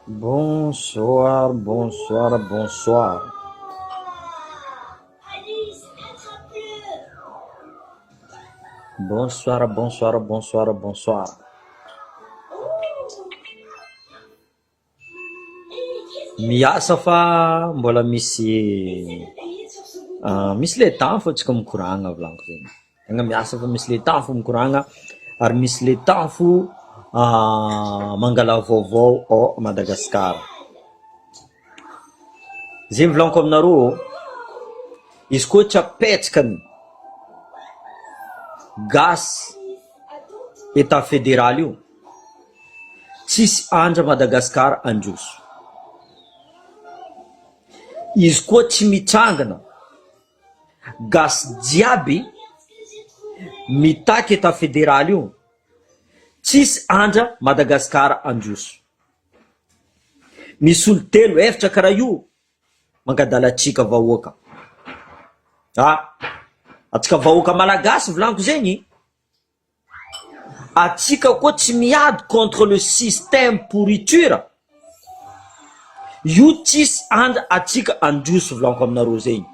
Bonsoir bonsoir bonsoir. Bonsoir bonsoir bonsoir bonsoir. Miasa fa mbola misy misy le temps fa tsy ko mikoragna volagno zegny. Tegna miasa fa misy le tafo mikoragna ary misy le tafo mangala vaovao ao Madagasikara. Zay volaniko aminareo ô, izy koa tsy apetraka ny gasy etat federal io, tsisy andra Madagasikara handroso. Izy koa tsy mitrangana. Gasy jiaby mitaky etat federal io tsisy andra Madagascar androso misy olo telo eftra kara io mangadala tsika vahoaka ah atsika vahoaka malagasy volanko zegny. Atsika koa tsy miady contre le système pourriture io tsisy and atsika androso vlanko aminareo zegny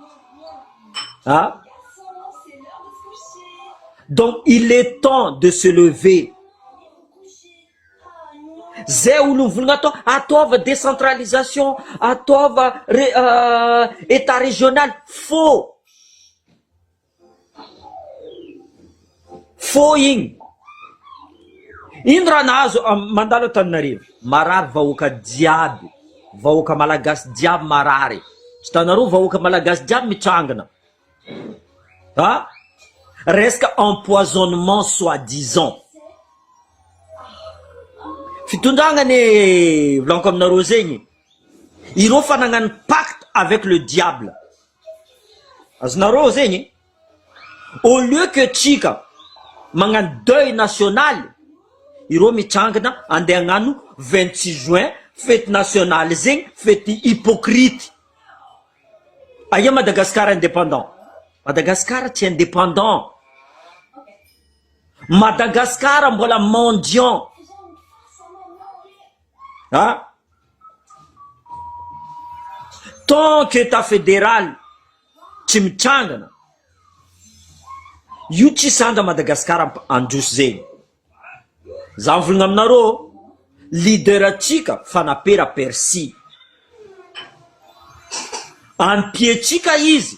a donc il est temps de se lever zay olony volagna atao ataova decentralisation ataova re- etat regionaly faux. Fohy igny. Ino raha nahazo mandalo Antananarivo? Marary vahoaka jiaby, vahoaka malagasy jiaby marary. Hitanareo vahoaka malagasy jiaby mitrangina a! Resaka empoisonnement soit disant. Fitondragna anie volaniko aminareo zegny, ireo fa nagnano pacte avec le diable. Azonareo zegny e! Au lieu que tsika magnano deuil national, ireo mitrangana andeha hagnano vingt six juin fety national zegny, fety hypocrite. Aia Madagascar indépendant? Madagascar tsy indépendant, Madagascar mbola mendiant. an! Tant que Etat federal tsy mitrangana, io tsy sandra Madagascar handroso zegny. Za mivolagna aminareo leader antsika Fanapera Percy, ampiantsika izy.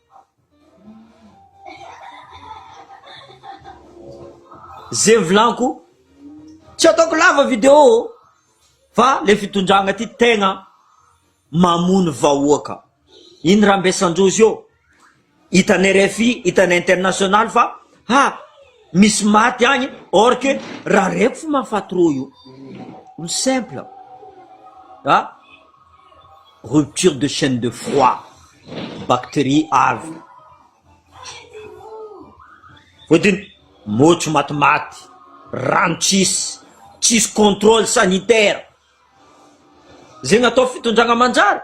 Ze mivilanko tsy ataoko lava video fa le fitondragna ty tegna mamono vahoaka iny rambesandrozy io hitanay rfi hitanay international fa ha misy maty agny or que raha reko fo mahafaty rô io olo simple a. rupture de chaine de froid, bacterie avy voadino, motro matimaty, rano tsisy, tsisy controle sanitaire zegny atao fitondragna manjary.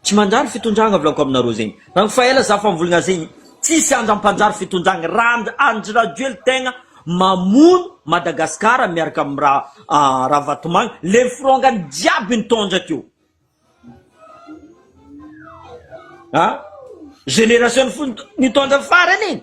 Tsy manjary fitondragna volako aminareo zegny rang fa ela za fa mivolagna zegny tsisy andra mpanjary fitondragna rand Andry Rajoely tegna mamono Madagascar miaraka am ra Ravatomanga le nifirongany jiaby nitondra teo a generation nitondra farany e!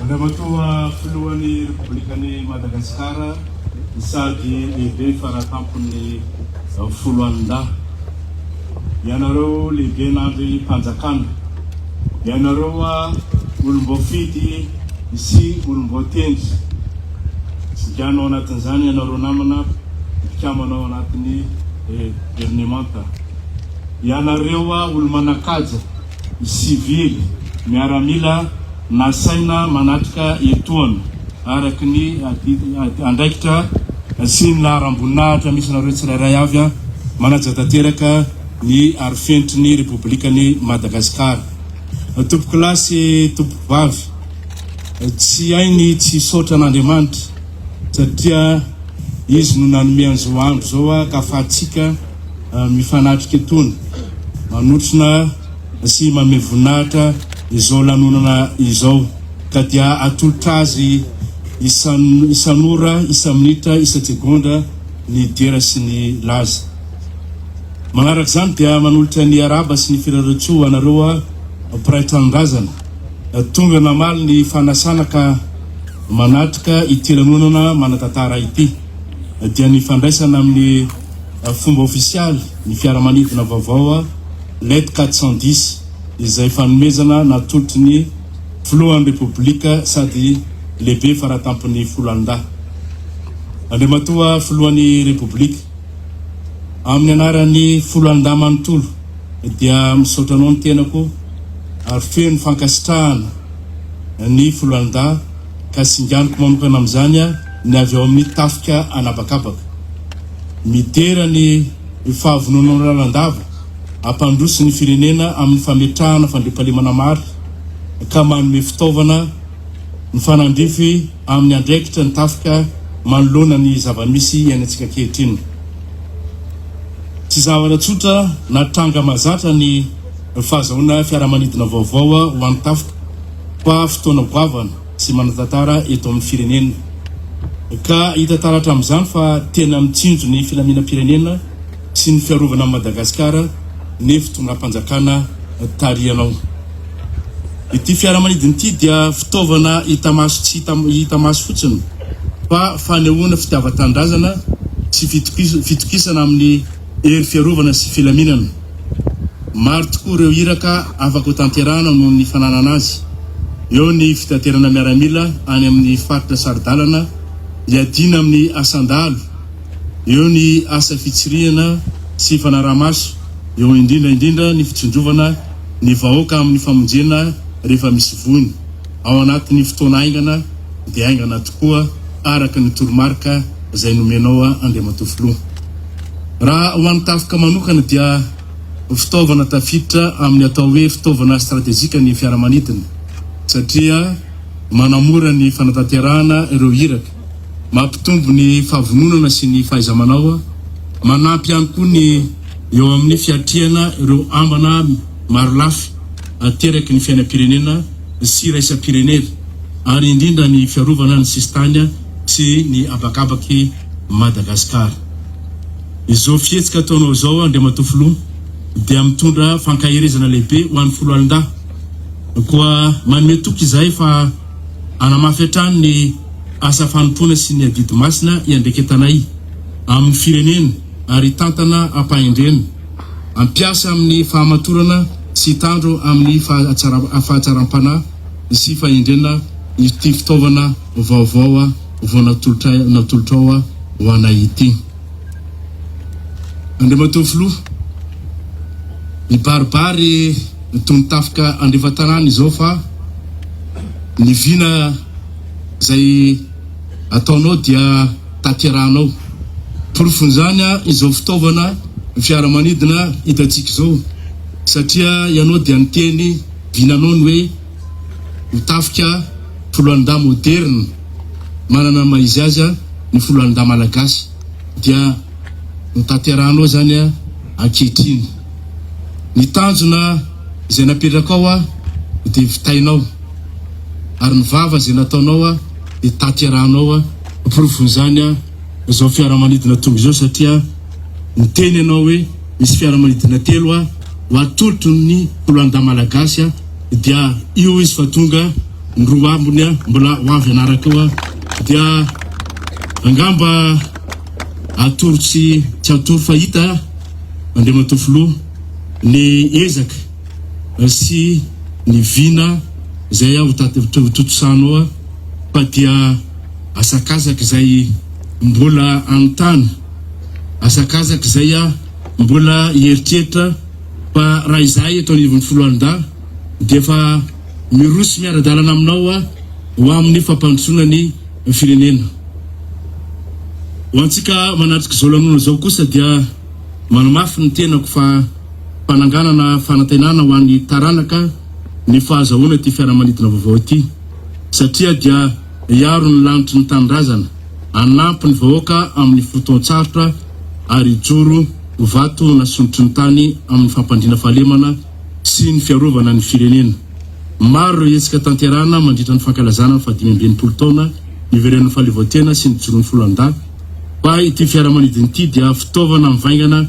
Andriamatoa Filohan'ny Repoblikan'i Madagasikara sady Lehibe Faratampon'ny Foloalindahy, ianareo Lehiben'Andrimpanjakana, ianareo olom-boafidy sy olom-boatendry, Jigana ao anatin'izany ianareo namana mpikambana ao anatin'ny Governemanta. Ianareo olo-manan-kaja, ny sivily, miaramila nasaina manatrika etoana araka ny andraikitra sy ny laharam-boninahitra misy anareo tsirairay avy, manaja tanteraka ny arifenitry ny Repoblikan'i Madagasikara. Tompokolahy sy tompokovavy, tsy hay ny tsy hisaotra an'Andriamanitra. satria izy no nanome an'izao andro izao akafahantsika mifanatrika etony manotrona sy mame voninahitra izao lanonana izao ka dia atolotra azy isan isan'ora isa-minitra isa-tsegondra ny dera sy ny laza manaraka izany dia manolotra ny araba sy ny firareo-tsoa anareo mpiray tranondrazana tonga namaly ny fanasana ka manatrika ity lanonana manan-tantara ity dia ny fandraisana amin'ny fomba ofisialy ny fiaramanidina vaovao Let 410 izay fanomezana natolotry ny Filohan'ny Repoblika sady Lehibe faratampon'ny Foloalindahy Andriamatoa Filohan'ny Repoblika. Amin'ny anaran'ny Foloalindahy manontolo dia misaotra anao ny tenako ary feno fankasitrahana. ny foloalindahy ka singaniko manokana amin'izany aho ny avy ao amin'ny tafika an'habakabaka. Midera ny fahavononanao lalandava hampandroso ny firenena amin'ny fametrahana fandriampahalemana maro ka manome fitaovana mifanandrify amin'ny andraikitra ny tafika manoloana ny zava-misy iainantsika ankehitriny. Tsy zavatra tsotra na tranga mahazatra ny fahazahoana fiaramanidina vaovao ho an'ny Tafika fa fotoana goavana sy manan-tantara eto amin'ny firenena ka hita taratra amin'izany fa tena mitsinjo ny filaminam-pirenena sy ny fiarovana an'i Madagasikara ny fitondram-panjakana tarihanao. Ity fiaramanidina ity dia fitaovana hita maso tsy hita maso fotsiny fa fanehoana fitiavan-tanindrazana sy fitokisana amin'ny hery fiarovana sy filaminana. Maro tokoa ireo iraka afaka hotanterahana noho ny fananana azy. Eo ny fitaterana miaramila any amin'ny faritra saro-dalana hiadiana amin'ny asan-dahalo, eo ny asa fitsirihana sy fanaraha-maso, eo indrindra indrindra ny fitsinjovana ny vahoaka amin'ny famonjena rehefa misy voina. ao anatin'ny fotoana haingana dia haingana tokoa araka ny toromarika izay nomenao Andriamatoa Filoha. Raha ho an'ny tafika manokana dia fitaovana tafiditra amin'ny atao hoe fitaovana stratejika ny fiaramanidina satria manamora ny fanatanterahana ireo iraka, mampitombo ny fahavononana sy ny fahaiza-manao, manampy ihany koa ny eo amin'ny fiatrehana ireo ambana marolafy ateraky ny fiainam-pirenena. sy iraisam-pirenena ary indrindra ny fiarovana ny sisintany sy ny habakabak'i Madagasikara. Izao fihetsika ataonao izao Andriamatoa Filoha dia mitondra fankaherezana lehibe ho an'ny Foloalindahy. Koa manome toky izahay fa hanamafy hatrany ny asa fanompoana sy ny adidy masina iandraiketanay amin'ny firenena ary hitantana am-pahendrena. Ampiasa amin'ny fahamatorana sy hitandro amin'ny fahatsaram-panahy sy fahendrena ity fitaovana vaovao vao natolotrao ho anay ity. Andriamatoa Filoha, mibaribary toy ny tafika andrefantanàna izao fa ny vina izay ataonao dia taterahanao. Porofon'izany izao fitaovana fiaramanidina hitantsika izao, satria ianao dia niteny vinanao ny hoe ho tafika foloalindahy moderina, manana ny maha izy azy ny foloalindahy malagasy, dia notaterahanao izany ankehitriny. Ny tanjona izay napetrakao dia vitainao, ary ny vava izay nataonao. ny taterahanao hoa porofon'izany hoa izao fiaramanidina tonga izao satria niteny ianao hoe misy fiaramanidina telo hoa ho atolotro ny koloanda malagasy hoa dia io izy fa tonga ny roa ambony hoa mbola ho avy anaraka hoa dia angamba atoro tsy tsy atoro fa hita Andriamatoa Filoha ny ezaka sy ny vina izay avy taty tontosaina ao fa dia asakasaka izay mbola anontany, asakasaka izay mbola hieritreritra fa raha izahay eto anivon'ny foloalindahy dia efa miroso miara-dalana aminao ho amin'ny fampandrosoana ny firenena. Ho antsika manatrika izao lanonana izao kosa dia manamafy ny tenako fa Fananganana fanantenana ho an'ny taranaka ny fahazahoana ity fiaramanidina vaovao ity satria dia hiaro ny lanitry ny tanindrazana, hanampy ny vahoaka amin'ny fotoan-tsarotra ary hijoro ho vato nasondrotry ny tany amin'ny fampandriana fahalemana sy ny fiarovana ny firenena. Maro ireo hetsika tanterahana mandritra ny fankalazana ny fahadimy amby enimpolo taona niverenan'ny fahaleovantena sy nijoroan'ny foloalindahy fa ity fiaramanidina ity dia fitaovana mivaingana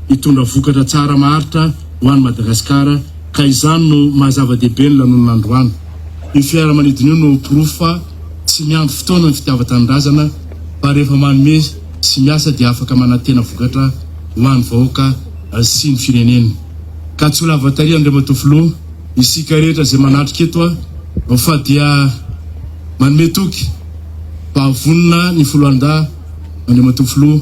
hitondra vokatra tsara maharitra ho an'i Madagasikara ka izany no maha zava-dehibe ny lanonana androany. Io fiaramanidina io no porofo fa tsy miandry fotoana ny fitiavan-tanindrazana fa rehefa manome sy miasa dia afaka manantena vokatra ho an'ny vahoaka sy ny firenena. Ka tsy ho lava tarehy Andriamatoa Filoha, isika rehetra izay manatrika eto fa dia manome toky fa vonona ny Foloalindahy Andriamatoa Filoha,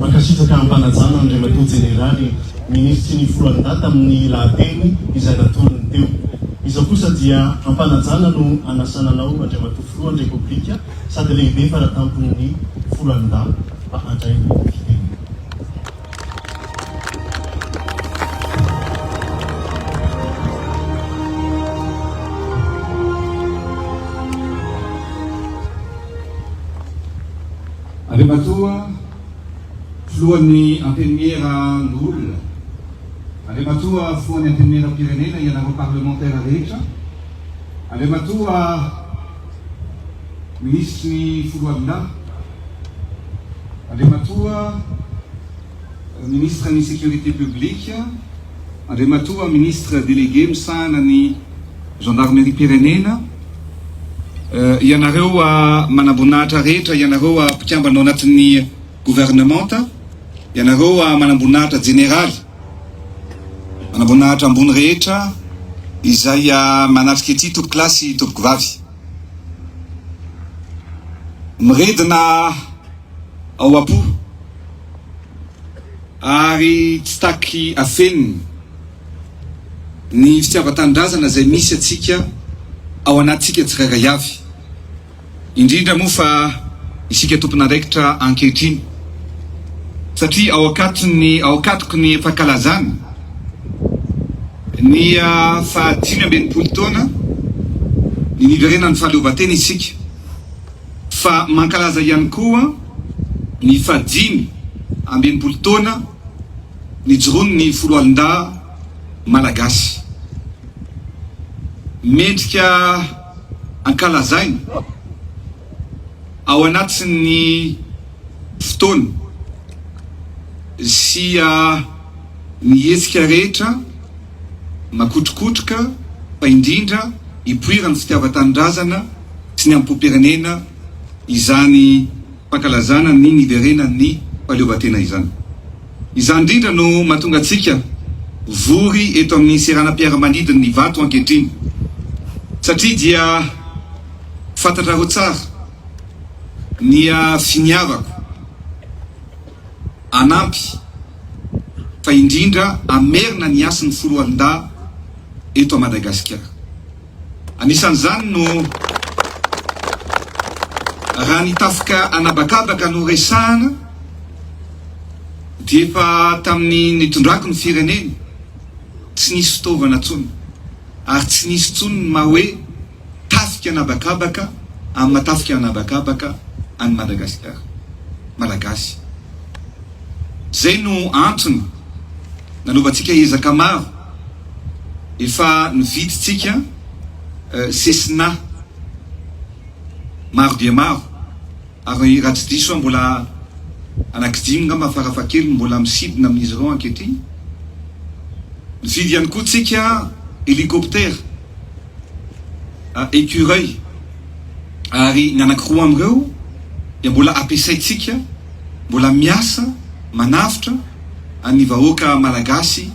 Mankasitraka am-panajana Andriamatoa Jeneraly Minisitry ny Foloalindahy tamin'ny lahateny izay natolony teo. Izao kosa dia am-panajana no anasana anao Andriamatoa Filohan'ny Repoblika sady lehibe fara-tampony ny foranin-dahy mba handray ny fiteniny. Andriamatoa Filohan'ny Antenimiera Nul, Andriamatoa Filohan'ny Antenimieram-pirenena, ianareo Parlemantera rehetra, Andriamatoa. Minisitry ny Foloalindahy, Andriamatoa Ministre ny Sécurité Publique, Andriamatoa Ministre Délégué misahana ny Gendarmerie-pirenena, ianareo manamboninahitra rehetra, ianareo mpikambana ao anatin'ny Governemanta, ianareo manamboninahitra jeneraly, Manamboninahitra ambony rehetra izay manatrika ity tompoko lahy sy tompoko vavy. Miredona ao am-po ary tsy taky afenina ny fitiavan-tanindrazana izay misy antsika ao anatintsika tsirairay avy. Indrindra moa fa isika tompon'andraikitra ankehitriny, satria ao an-katony, ao an-katoky ny fankalazana ny fahadimy amby enimpolo taona ny niverenan'ny fahaleovantena isika, fa mankalaza ihany koa ny fahadimy amby enimpolo taona nijoroan'ny foloalindahy malagasy. Mendrika. Ankalazaina ao anatin'ny fotoana sy ny hetsika rehetra makotrokotroka fa indrindra ipoiran'ny fitiavan-tanindrazana sy ny amim-popirenena izany fankalazana ny niverenan'ny fahaleovantena izany. Izany indrindra no mahatonga antsika vory eto amin'ny seranam-piaramanidin'ny Ivato ankehitriny, satria dia fantatrareo tsara ny finiavako hanampy fa indrindra hamerina ny hasin'ny foloalindahy eto Madagasikara. Anisan'izany no raha ny tafika an'habakabaka no resahana dia efa tamin'ny nitondrako ny firenena tsy nisy fitaovana tsony ary tsy nisy tsony ny maha hoe tafika an'habakabaka amin'ny maha tafika an'habakabaka an'i Madagasikara, Malagasy. Izay no antony nanaovantsika ezaka maro. Efa nividintsika Cessna maro dia maro, ary raha tsy diso aho mbola anankidimy angamba farafahakeliny no mbola misidina amin'izy ireo ankehitriny. Nividy ihany koa tsika helicoptère. écureuils, ary ny anankiroa amin'ireo dia mbola ampiasaintsika, mbola miasa manavotra ny vahoaka Malagasy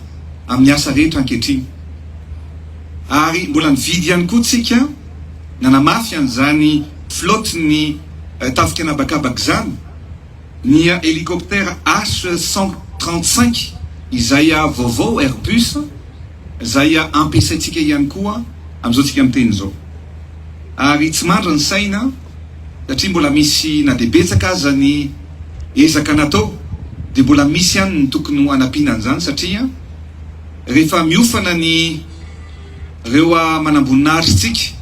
amin'ny asa rehetra ankehitriny. Ary mbola nividy ihany koa tsika, nanamafy an'izany flotte-n'ny tafika an'habakabaka izany, ny hélicoptère H cent trente cinq izay vaovao, Airbus, Izay ampiasaintsika ihany koa amin'izao tsika miteny izao. Ary tsy mandry ny saina satria mbola misy na dia betsaka aza ny ezaka natao dia mbola misy ihany ny tokony ho hanampiana an'izany satria rehefa miofana ny reo manamboninahitry tsika,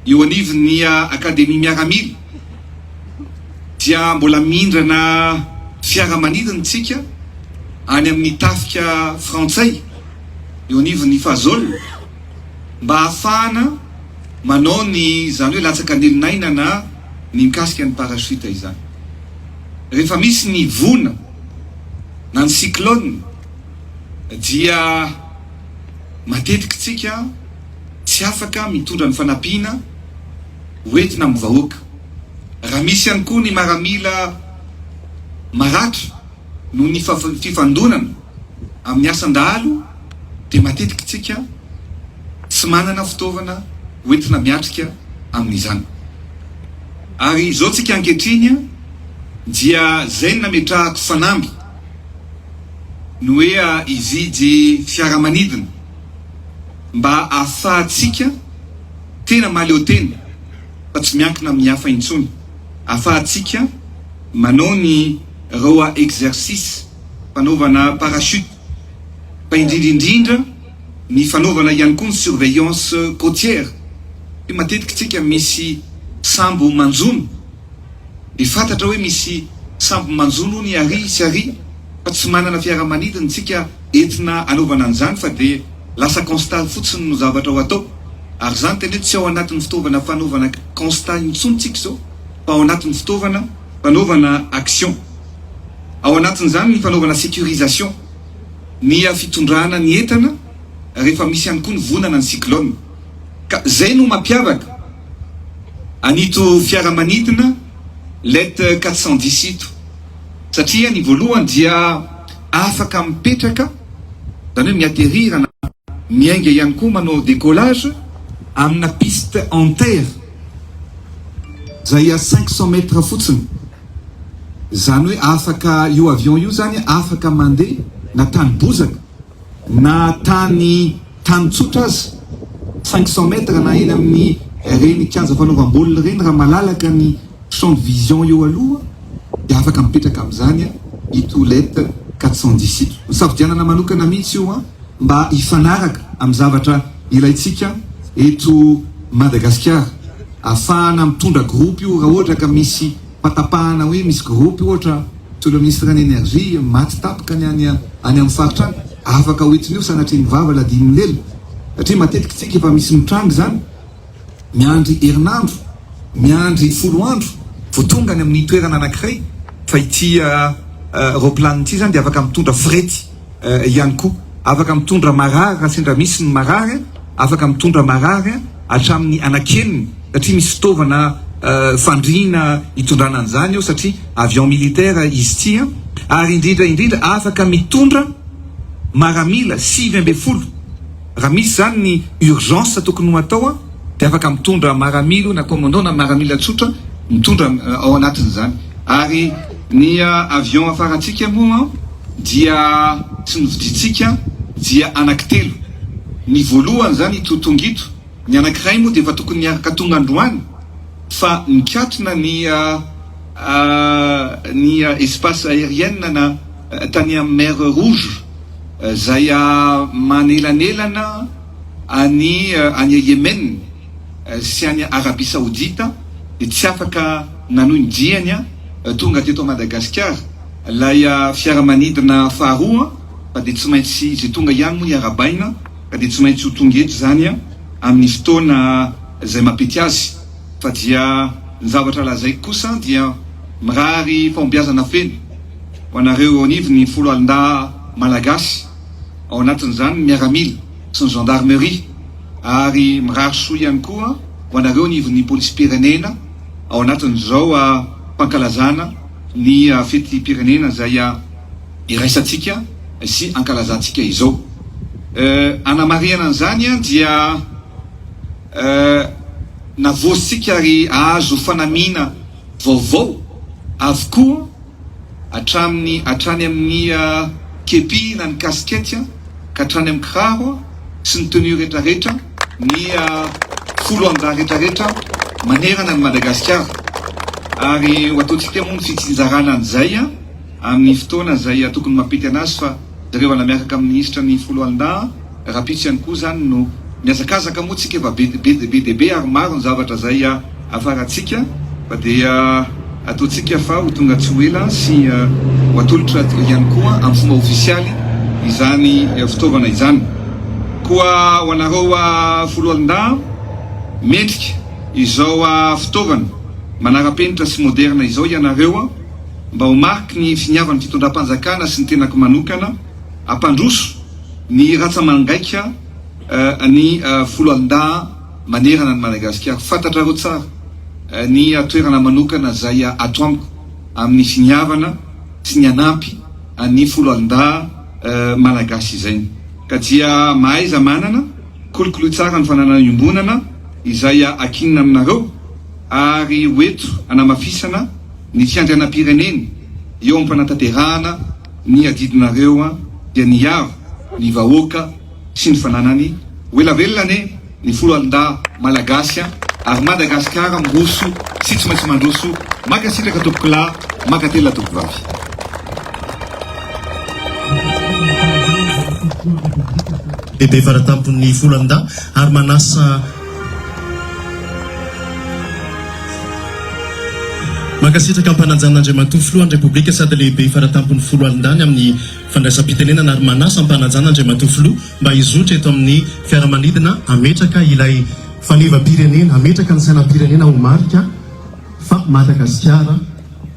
eo anivon'ny Akademia Miaramila dia mbola mindrana fiaramanidina isika any amin'ny tafika frantsay eo anivon'ny Fazol mba hahafahana manao ny izany hoe latsakan'elon'aina na ny mikasika ny parachute izany. Rehefa misy ny vona na ny cyclone dia matetika isika tsy afaka mitondra ny fanampiana ho entina amin'ny vahoaka. Raha misy ihany koa ny maramila maratra noho ny fifandonana amin'ny asan-dahalo dia matetika tsika tsy manana fitaovana ho entina miatrika amin'izany. Ary izao tsika ankehitriny dia izay no nametrahako fanamby ny hoe hividy fiaramanidina. mba ahafahantsika tena mahaleo tena fa tsy miankina amin'ny hafa intsony, ahafahantsika manao ny roa exercice fanaovana parachute fa indrindra indrindra ny fanaovana ihany koa ny surveillance cotière satria matetika isika misy sambo manjono. Dia fantatra hoe misy sambo manjono hono i Ary sy Ary fa tsy manana fiaramanidina tsika entina anaovana an'izany fa dia lasa constat fotsiny no zavatra ho atao ary izany tena hoe tsy ao anatin'ny fitaovana fanaovana constat intsony tsika izao fa ao anatin'ny fitaovana fanaovana action ao anatin'izany ny fanaovana securisation nia fitondrana ny entana rehefa misy ihany koa ny vonana ny cyclone. Ka zay no mampiavaka an'ito fiaramanidina Let quatre cent dix ito, satria ny voalohany dia afaka mipetraka, zany hoe mi-atterrir na miainga ihany koa manao décollage amina piste en terre zay à cinq cent mètres fotsiny, zany hoe afaka io avion io zany afaka mandeha na tany bozaka Na tany tany tsotra aza, cinq cents mètres, na eny amin'ny ireny kianja fanaovam-baolina ireny, raha malalaka ny champ de vision eo aloha dia afaka mipetraka amin'izany i Toulette quatre cent dix ito. Nosafidianana manokana mihitsy io mba hifanaraka amin'ny zavatra ilaintsika eto Madagasikara, ahafahana mitondra groupe io raha ohatra ka misy Fahatapahana hoe misy groupe ohatra toy ireo ministre ny energie maty tapaka ny any any amin'ny faritra any, afaka ho entin'io sanatria ny vava ladian'ny lela satria matetika isika efa misy mitranga izany miandry herinandro, miandry folo andro vao tonga any amin'ny toerana anankiray fa ity roplanina ity izany dia afaka mitondra frety. ihany koa. Afaka mitondra marary raha sendra misy ny marary, afaka mitondra marary hatramin'ny anakeniny satria misy fitaovana fandriana hitondrana an'izany eo satria avion militaire izy ity ary indrindra indrindra afaka mitondra maramila sivy ambin'ny folo raha misy izany ny urgence tokony ho atao dia afaka mitondra maramilo na commandant na maramila tsotra mitondra ao anatin'izany ary ny avion afarantsika moa dia tsy novidintsika dia anaky telo, ny voalohany izany ito tonga ito, ny anakiray moa dia efa tokony niaraka tonga androany fa nikatona ny ny espace aérienne na tany amin'ny mer rouge izay manelanelana an'i an'i Yemen. sy any Arabia Saodita dia tsy afaka nanohy ny diany tonga teto Madagasikara ilay fiaramanidina faharoa fa dia tsy maintsy izay tonga ihany moa ny arabaina ka dia tsy maintsy ho tonga eto izany amin'ny fotoana izay mampety azy fa dia ny zavatra lazaiko kosa dia mirary fahombiazana feno ho anareo eo anivon'ny foloalindahy Malagasy ao anatin'izany ny miaramila sy ny Gendarmerie ary mirary soa ihany koa ho anareo anivon'ny Polisim-pirenena ao anatin'izao fankalazana ny fetim-pirenena izay iraisantsika sy ankalazantsika izao. Hanamarihana an'izany dia navoasintsika ary azo fanamiana vaovao avokoa. hatramin'ny hatrany amin'ny kepi na ny kasikety ka hatrany amin'ny kiraro sy ny tenue rehetra rehetra ny folo andahy rehetra rehetra manerana an'i Madagasikara ary ho ataontsika moa ny fitsinjarana an'izay amin'ny fotoana izay tokony mampety an'azy fa Jereo ala miaraka amin'ny minisitra ny foloalindahy rahampitso ihany koa izany no mihazakazaka moa tsika efa be be dia be ary maro ny zavatra zay afarantsika fa dia ataontsika fa ho tonga tsy ho ela sy ho atolotra ihany koa amin'ny fomba ofisialy izany fitaovana izany koa ho anareo foloalindahy mendrika izao fitaovana manarapenitra sy moderna izao ianareo mba ho mariky ny finiavan'ny fitondram-panjakana sy ny tenako manokana hampandroso ny ratsamangaika ny foloalindahy manerana an'i Madagasikara. Fantatrareo tsara ny toerana manokana izay ato amiko amin'ny finiavana sy ny hanampy an'ny foloalindahy malagasy izay ka dia mahaiza manana Kolokolo tsara ny fananana iombonana izay akinina aminareo ary ho eto hanamafisana ny fiandrianam-pireneny eo am-panatanterahana ny adidinareo dia niaro ny vahoaka sy ny fananany ho ela velona anie ny foloalindahy malagasy ary Madagasikara miroso sy tsy maintsy mandroso mankasitraka tompokolahy mankatelina tompokovavy. Bebe Varatampon'ny Volandahy ary manasa Mankasitraka am-panajana Andriamatoa Filohan'ny Repoblika sady Lehibe Faratampon'ny Foloalindany amin'ny fandraisam-pitenenana ary manasa am-panajana Andriamatoa Filoha mba hizotra eto amin'ny fiaramanidina hametraka ilay fanevam-pirenena, hametraka ny sainam-pirenena ho marika fa Madagasikara.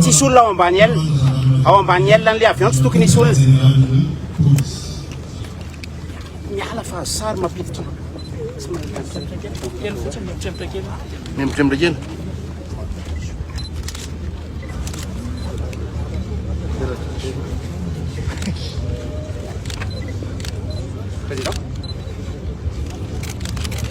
Tsisy olona ao ambany aile. Ao ambany aile an'ilay avion tsy tokony hisy olona. Miala fa azo sary mapitika. Miambotremotra kely. Président